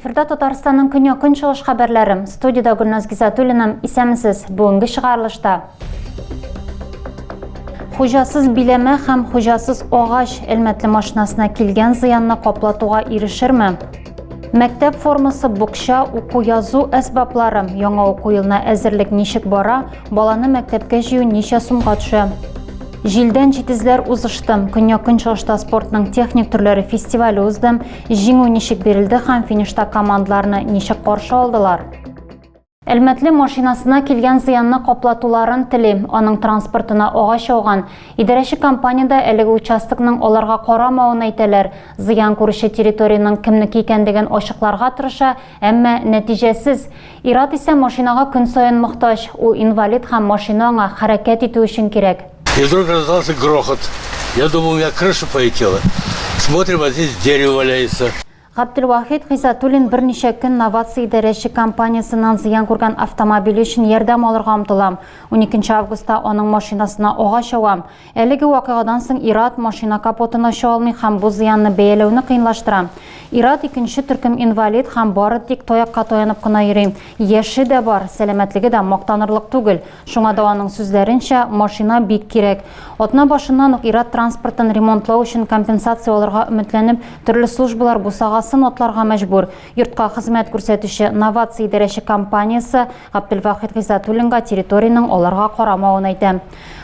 Эфирда Татарстанның көньяк көнчыгыш хәбәрләре. Студиядә Гөлназ Гизатуллина. Исәмсез. Бүгенге чыгарылышта. Хуҗасыз биләмә һәм хуҗасыз агач Әлмәтле машинасына килгән зыянны каплатуга ирешерме? Мәктәп формасы, букча, уку язу әсбаплары. Яңа уку елына әзерлек ничек бара? Баланы мәктәпкә җыю ничә сумга төшә? Җилдән җитезләр узышты. Көньяк көнчыгышта спортның техник төрләре фестивале узды. Җиңү ничек бирелде һәм финишта командаларны ничек каршы алдылар? Әлмәтле машинасына килгән зыянны каплатуларын тели. Аның транспортына агач ауган. Идарәче компания дә әлеге участокның аларга карамавын әйтәләр. Зыян күрүче территориянең кемнеке икәнлеген ачыкларга тырыша, әмма нәтиҗәсез. Ир-ат исә машинага көн саен мохтаҗ. Ул инвалид һәм машина аңа хәрәкәт итү өчен кирәк. И вдруг раздался грохот. Я думал, у меня крыша полетела. Смотрим, а здесь дерево валяется. Габделвахит Гыйзатуллин берничә көн Новация идарәче компаниясеннән зыян күргән автомобиле өчен ярдәм алырга омтылам. Уникенче августта аның машинасына агач авам. Әлеге вакыйгадан соң ир-ат машина капотын ача алмый һәм бу зыянны бәяләүне кыенлаштыра. Ир-ат икенче төркем инвалид һәм бары тик таякка таянып кына йөри. Яше дә бар, сәламәтлеге дә мактанырлык түгел. Шуңа да аның сүзләренчә, машина бик кирәк. Атна башыннан ук ир-ат транспортын ремонтлау өчен компенсация алырга өметләнеп, Төрле службалар бусагасын атларга мәҗбүр. Йортка хезмәт күрсәтүче Новация идарәче компаниясе Габделвахит Гыйзатуллинга территориянең аларга карамавын әйтә.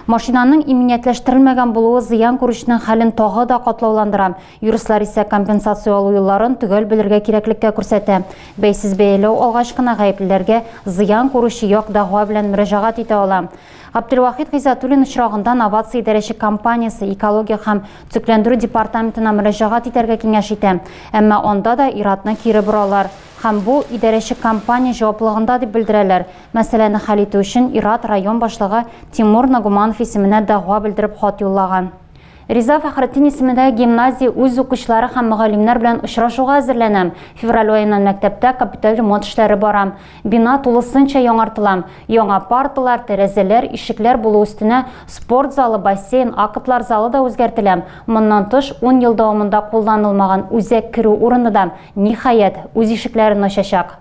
Машинаның иминиятләштерелмәгән булуы зыян күрүченең хәлен тагы да катлауландыра. Юристлар исә компенсация алу юлларын төгәл белергә кирәклеккә күрсәтә. Бәйсез бәяләү алгач кына гаеплеләргә зыян күрүче як дәгъва белән мөрәҗәгать итә ала. Габделвахит Гыйзатуллин очрагында Новация идарәче компаниясе экология һәм төзекләндерү департаментына мөрәҗәгать итәргә киңәш итә. Әмма анда да ир-атны кире боралар. Һәм бу, идарәче компания җаваплылыгында дип белдерәләр. Мәсьәләне хәл итү өчен ир-ат район башлыгы Тимур Нагуманов исеменә дәгъва белдереп хат юллаган. Риза Фәхретдин исемендәге гимназия үз укучылары һәм мөгаллимнәр белән очрашуга әзерләнәм. Февраль аеннан мәктәптә капиталь ремонт эшләре бара. Бина тулысынча яңартыла. Яңа парталар, тәрәзәләр, ишекләр булу өстенә спорт залы, бассейн, актлар залы да үзгәртелә. Моннан тыш, ун ел дәвамында кулланылмаган үзәк керү урыны да, ниһаять, үз ишекләрен ачачак.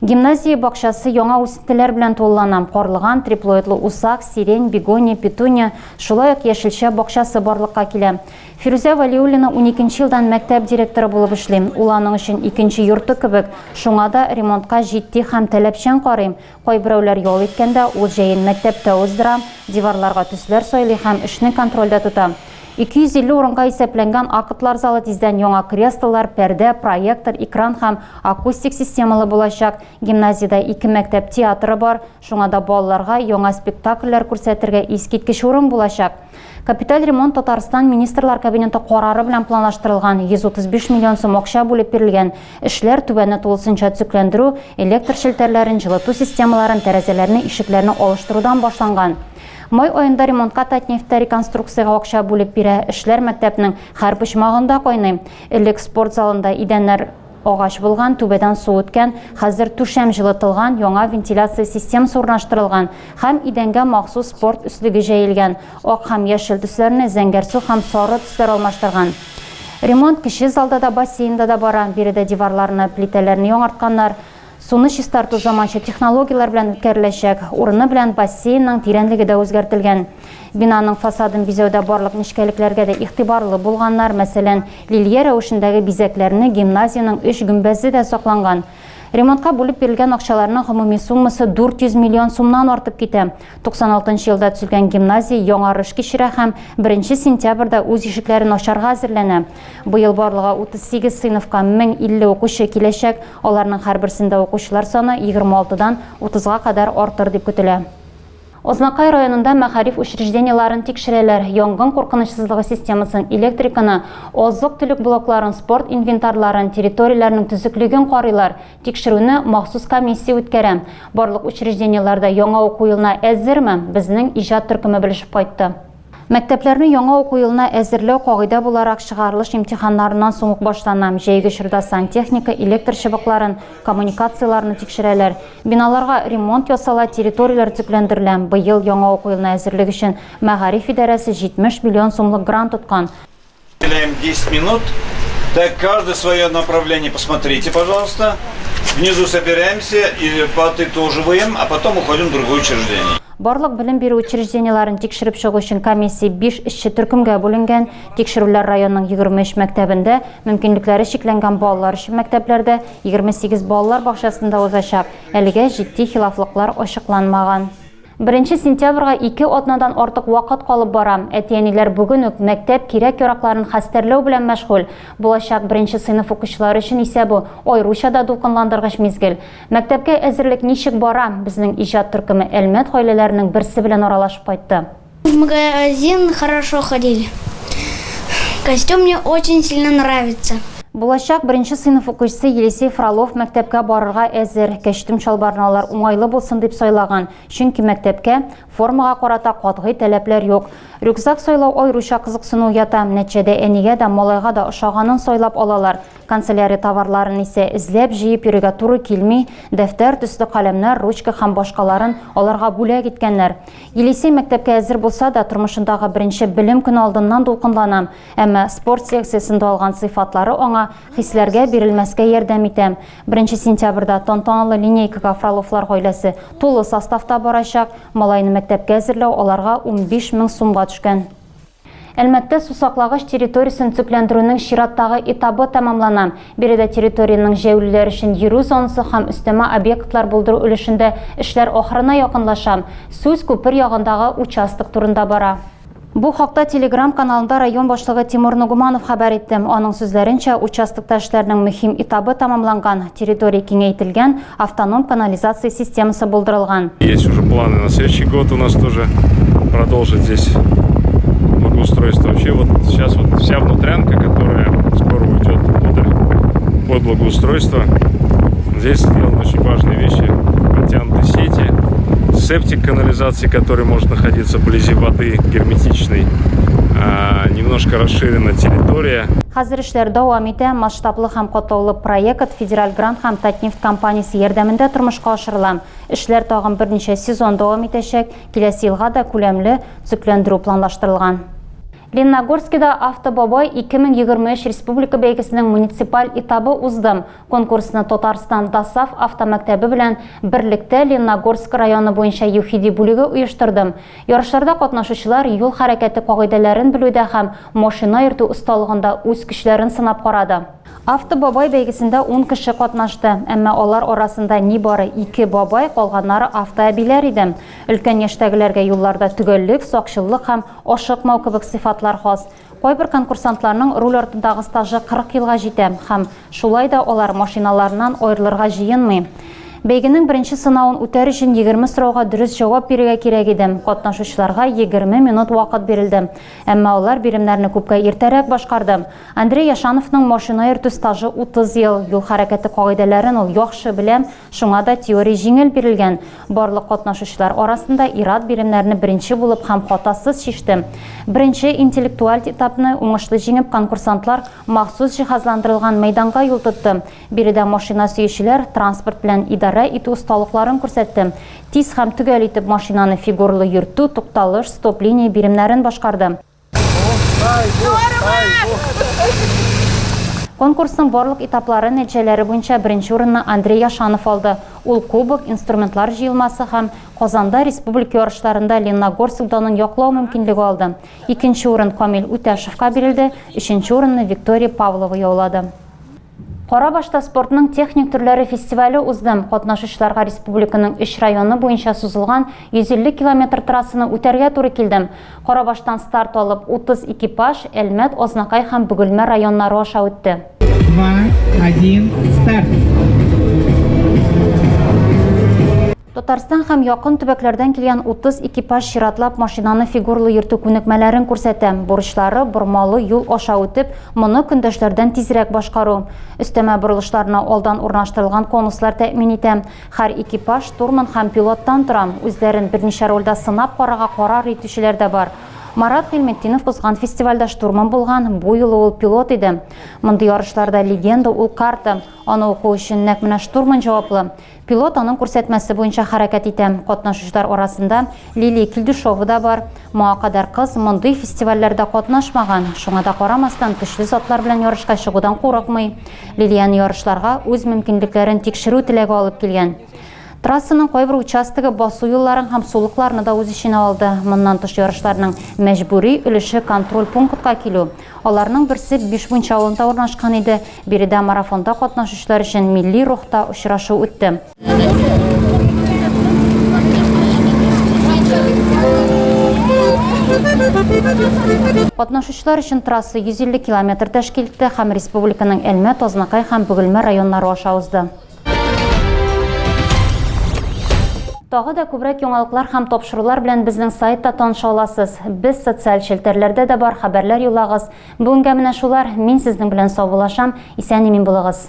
Гимназия бакчасы яңа үсентеләр белән тулылана, карлыган, триплоидлы усак, сирень, бегония, петуния, шулай ук яшелчә бакчасы барлыкка килә. Фирүзә Вәлиуллина уникенче елдан мәктәп директоры булып эшли. Ул аның өчен икенче йорты кебек, шуңа да ремонтка җитди һәм таләпчән карый. Кайберәүләр ял иткәндә, ул җәен мәктәптә уздыра, диварларга төсләр сайлый һәм эшне контрольдә тота. 250 урынга исәпләнгән актлар залы тиздән яңа креслолар, пәрдә, проектор, экран һәм акустик системалы булачак. Гимназиядә ике мәктәп театры бар, шуңа да балаларга яңа спектакльләр күрсәтергә искиткеч урын булачак. Капиталь ремонт Татарстан Министрлар Кабинеты карары белән планлаштырылган 135 миллион сум акча бүлеп бирелгән. Эшләр түбәне тулысынча төзекләндерү, электр челтәрләрен, җылыту системаларын, тәрәзәләрне, ишекләрне алыштырудан башланган. Май аенда ремонтка Татнефть тә реконструкциягә акча бүлеп бирә. Эшләр мәктәпнең һәр почмагында кайный. Элек спорт залында идәннәр агач булган, түбәдән су үткән, хәзер түшәм җылытылган, яңа вентиляция системасы урнаштырылган һәм идәнгә махсус спорт өслеге җәелгән. Ак һәм яшел төсләрне зәңгәрсу һәм сары төсләр алмаштырган. Ремонт кече залда да, бассейнда да бара. Биредә диварларны, плитәләрне яңартканнар. Суны чистарту заманча технологияләр белән үткәреләчәк. Урыны белән бассейнның тирәнлеге дә үзгәртелгән. Бинаның фасадын бизәүдә барлык нечкәлекләргә дә игътибарлы булганнар, мәсәлән, лилия рәвешендәге бизәкләрне, гимназиянең өч гөмбәзе дә сакланган. Ремонтка бүлеп бирелгән акчаларның гомуми суммасы 400 миллион сумнан артып китә. 96 нчы елда төзелгән гимназия яңарыш кичерә һәм 1 сентябрьдә үз ишекләрен ачарга әзерләнә. Быел барлыгы 38 сыйныфка 1050 укучы киләчәк, аларның һәрберсендә укучылар саны 26 дан 30 га кадәр артыр дип көтелә. Азнакай районында мәгариф учреждениеләрен тикшерәләр, янгын куркынычсызлыгы системасын, электриканы, азык-төлек блокларын, спорт инвентарьларын, территорияләрнең төзеклеген карыйлар, тикшерүне махсус комиссия үткәрә. Барлык учреждениеләр дә яңа уку елына әзерме? Безнең иҗат төркеме белешеп кайтты. Мәктәпләрне яңа уку елына әзерләү кагыйдә буларак чыгарылыш имтиханнарыннан соң ук башлана. Җәйге чорда сантехника, электр чыбыкларын, коммуникацияләрне тикшерәләр. Биналарга ремонт ясала, территорияләр төпләндерелә. Быел яңа уку елына әзерлек өчен мәгариф идарәсе 70 миллион сумлык грант тоткан. Уделяем 10 минут. Так, каждый свое направление посмотрите, пожалуйста. Внизу собираемся и подытоживаем, а потом уходим в другое учреждение. Барлык белем бирү учреждениеләрен тикшереп чыгу өчен комиссия 5 эшче төркемгә бүленгән. Тикшерүләр районның 23 мәктәбендә, мөмкинлекләре чикләнгән балалар өчен мәктәпләрдә, 28 балалар бакчасында узачак. Әлегә җитди хилафлыклар ачыкланмаган. Беренче сентябрьгә ике атнадан артык вакыт калып бара. Әти-әниләр бүген үк мәктәп кирәк-яракларын хәстәрләү белән мәшгуль. Булачак беренче сыйныф укучылары өчен исә бу, аеруча да дулкынландыргыч мизгел. Мәктәпкә әзерлек ничек бара? Безнең иҗат төркеме Әлмәт гаиләләренең берсе белән аралашып кайтты. Магазин хорошо ходили. Костюм мне очень сильно нравится. Булачак беренче сыйныф укучысы Елисей Фролов мәктәпкә барырга әзер. Кәчтүм чалбарны алар уңайлы булсын дип сайлаган, чөнки мәктәпкә формага карата катгый таләпләр юк. Рюкзак сайлау аеруча кызыксыну уята. Нәтиҗәдә әнигә дә, малайга да ошаганын сайлап алалар. Канцелярия товарларын исә эзләп, җыеп йөрергә туры килми. Дәфтәр, төсле каләмнәр, ручка һәм башкаларын аларга бүләк иткәннәр. Елисей мәктәпкә әзер булса да, тормышындагы беренче белем көне алдыннан дулкынлана. Әмма спорт секциясендә алган сыйфатлары аңа хисләргә бирелмәскә ярдәм итә. Беренче сентябрьдә тантаналы линейкага Фроловлар гаиләсе тулы составта барачак. Малайны мәктәпкә әзерләү аларга унбиш мең сумга төшкән. Әлмәттә сусаклагыч территориясен төзекләндерүнең чираттагы этабы тәмамлана. Биредә территориянең җәяүлеләр өчен йөрү зонасы һәм өстәмә объектлар булдыру өлешендә эшләр ахырына якынлаша. Сүз күпер ягындагы участок турында бара. Бу хакта Телеграм каналында район башлыгы Тимур Нугуманов хәбәр итте. Аның сүзләренчә, участокта эшләрнең мөһим этабы тәмамланган, территория киңәйтелгән, автоном канализация системасы булдырылган. Есть уже планы на следующий год у нас тоже продолжить здесь благоустройство. Вообще вот сейчас вот вся внутрянка, которая скоро уйдет туда под благоустройство, здесь сделаны очень важные вещи, подтянуты сети, септик канализация. месте, которое может находиться вблизи воды герметичной, немножко расширена территория. Хәзер эшләр дәвам итә. Масштаблы һәм катлаулы проект федераль грант һәм Татнефть компаниясе ярдәмендә тормышка ашырыла. Эшләр тагын берничә сезон дәвам итәчәк. Киләсе елга да күләмле төзекләндерү планлаштырылган. Лениногорскида Автобабай 2023 республика бәйгесенең муниципаль этабы узды. Конкурсны Татарстан ДОСААФ автомәктәбе белән берлектә Ленногорск районы буенча ЮХИДИ бүлеге оештырды. Ярышларда катнашучылар юл хәрәкәте кагыйдәләрен белүдә һәм машина йөртү осталыгында үз көчләрен сынап карады. Автобабай бәйгесендә ун кеше катнашты, әмма алар арасында нибары ике бабай, калганнары автоәбиләр иде. Өлкән яшьтәгеләргә юлларда төгәллек, сакчыллык һәм ашыкмау кебек сыйфатлар хас. Кайбер конкурсантларның руль артындагы стажы 40 елга җитә һәм, шулай да, алар машиналарыннан аерылырга җыенмый. Бәйгенең беренче сынавын үтәр өчен 20 сорауга дөрес җавап бирергә кирәк иде. Катнашучыларга 20 минут вакыт бирелде. Әмма алар биремнәрне күпкә иртәрәк башкарды. Андрей Яшановның машина йөртү стажы 30 ел. Юл хәрәкәте кагыйдәләрен ул яхшы белә. Шуңа да теория җиңел бирелгән. Барлык катнашучылар арасында ир-ат биремнәрне беренче булып һәм хатасыз чиште. Беренче интеллектуаль этапны уңышлы җиңеп конкурсантлар махсус җиһазландырылган мәйданга юл тотты. Биредә машина сөючеләр транспорт белән идарә итү осталыкларын күрсәтте. Тиз һәм төгәл итеп машинаны фигурлы йөртү, тукталыш, стоп-линия биремнәрен башкарды. Конкурсның барлык этаплары нәтиҗәләре буенча беренче урынны Андрей Яшанов алды. Ул кубок, инструментлар җыелмасы һәм Казанда республика ярышларында Ленногорск данын яклау мөмкинлеге алды. Икенче урын Камил Үтәшевка бирелде, өченче урынны Виктория Павлова яулады. Карабашта спортның техник төрләре фестивале узды. Катнашучыларга республиканың өч районы буенча сузылган 150 километр трассаны үтәргә туры килде. Карабаштан старт алып, 30 экипаж Әлмәт, Азнакай һәм Бөгелмә районнары аша үтте. Два, один, старт! Татарстан һәм якын төбәкләрдән килгән 30 экипаж чиратлап машинаны фигурлы йөртү күнекмәләрен күрсәтә. Бурычлары, бормалы юл аша үтеп, моны көндәшләрдән тизрәк башкару. Өстәмә борылышларны алдан урнаштырылган конуслар тәэмин итә. Һәр экипаж штурман һәм пилоттан тора. Үзләрен берничә рольдә сынап карарга карар итүчеләр дә бар. Марат Гыйльметдинов узган фестивальдә штурман булган, бу юлы ул пилот иде. Мондый ярышларда легенда ул карта. Аны уку өчен нәкъ менә штурман җаваплы. Пилот аның күрсәтмәсе буенча хәрәкәт итә. Катнашучылар арасында Лилия Килдюшова да бар. Моңа кадәр кыз мондый фестивальләрдә катнашмаган, шуңа да карамастан, көчле затлар белән ярышка чыгудан курыкмый. Лилияне ярышларга үз мөмкинлекләрен тикшерү теләге алып килгән. Трассаның кайбер участогы басу юлларын һәм сулыкларны да үз эченә алды. Моннан тыш ярышларның мәҗбүри өлеше контроль пунктка килү. Аларның берсе Бишмунча авылында урнашкан иде, Биредә марафонда катнашучылар өчен милли рухта очрашу үтте. Катнашучылар өчен трасса 150 километр тәшкил итте һәм республиканың Әлмәт, Азнакай һәм Бөгелмә районнары аша узды. Тагы да күбрәк яңалыклар һәм тапшырулар белән безнең сайтта таныша аласыз. Без социаль челтәрләрдә дә бар, хәбәрләр юлагыз. Бүгенгә менә шулар, мин сезнең белән саубулашам, исән-имин булыгыз.